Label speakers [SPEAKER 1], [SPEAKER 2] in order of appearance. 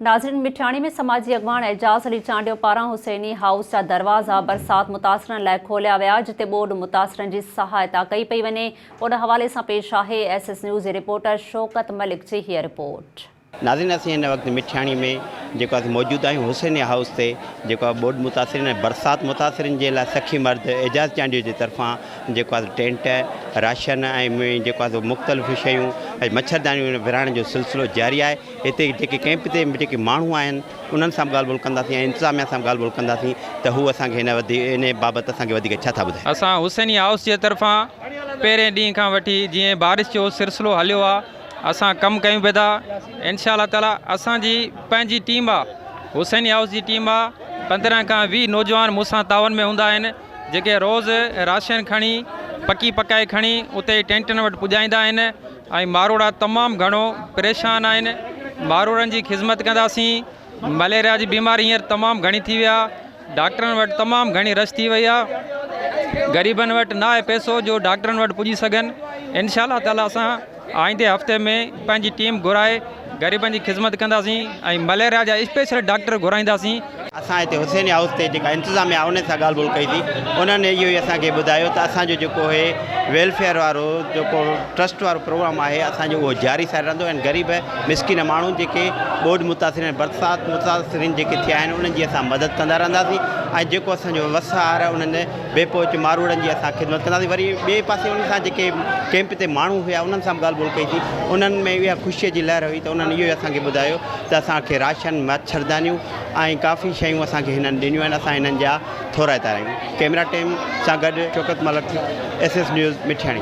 [SPEAKER 1] ناظرين مٺياڻي ۾ سماجي اڳواڻ اعجاز علي چانڊيو پاران حسيني هائوس جا دروازا برسات متاثرن لاء کوليا ويا جتي ٻوڏ متاثرن جي سهائتا ڪئي پئي وڃي ان حوالي سان پيش آهي ايس ايس نيوز جي رپورٽر شوڪت ملڪ جي هيء رپورٽ. ناظرين اسين هن
[SPEAKER 2] وقت مٺياڻي ۾ جيڪو اسين موجود آهيون حسيني هائوس تي جيڪو ٻوڏ متاثرين ۽ برسات متاثرين جي لاء سخي مرد اعجاز چانڊيو جي طرفان جيڪو ٽينٽ راشن ۽ جيڪو مختلف شيون ۽ مڇردانيون ورهائڻ جو سلسلو جاري آهي هتي جيڪي ڪئمپ تي جيڪي ماڻهو آهن انهن سان به ڳالهه ٻولهه ڪنداسين ۽ انتظاميا سان به ڳالهه ٻولهه ڪنداسين ته هو اسان کي ان بابت اسان کي وڌيڪ ڇا ٿا ٻڌائين. اسان حسيني هائوس جي
[SPEAKER 3] طرفان پهرين ڏينهن کان وٺي جيئن بارش جو سرسلو هليو آ اسان ڪم ڪيون پيا ٿا انشاء الله تعالي اسان جي پنهنجي ٽيم آ حسيني هائوس جي ٽيم آ پندرهن کان ويهه نوجوان مون سان تعاون ۾ هوندا آهن جيڪي روز راشن کڻي پڪي پڪائي کڻي اتي ٽينٽن وٽ پڄائيندا آهن ۽ ماروئڙا تمام گهڻو پريشان آهن ماروئڙن جي خذمت ڪنداسين مليريا جي بيماري هينئر تمام گهڻي ٿي وئي آهي ڊاڪٽرن وٽ تمام گهڻي رش ٿي وئي آهي غريبن وٽ نه آهي پئسو جو ڊاڪٽرن وٽ پڄي سگهن انشاء الله تعالي اسان آئيندي هفتي ۾ پنهنجي ٽيم گهرائي غريبن جي خذمت ڪنداسين ۽ مليريا جا اسپيشل ڊاڪٽر گهرائينداسين اسان هتي حسين
[SPEAKER 2] هائوس تي جيڪا انتظاميه آهي انهن سان ڳالهه ٻولهه ڪئي ٿي انهن اهو ئي اسان کي ٻڌايو ته اسان جو جيڪو هي ويلفيئر وارو جيڪو ٽرسٽ وارو پروگرام آهي اسان جو اهو جاري ساري رهندو ۽ غريب مسڪين ماڻهو جيڪي ٻوڏ متاثر ۽ برسات متاثرين جيڪي ٿيا آهن انهن جي اسان مدد ڪندا رهنداسين ۽ جيڪو اسان جو وس آهر آهي انهن بي پهچ ماروئڙن جي اسان خدمت ڪنداسين وري ٻئي پاسي انهن سان جيڪي ڪيمپ تي ماڻهو هيا انهن سان به ڳالهه ٻولهه ڪئي ٿي انهن ۾ اها خوشي جي لهر هئي ته انهن اهو ئي اسان کي ٻڌايو ته اسان کي راشن، مڇردانيون ۽ ڪافي شيون اسان کي هنن ڏنيون آهن، اسان هنن جا ٿورائتا رهيون. ڪئميرا ٽيم سان گڏ Shaukat Malik, S S news, Mithiani.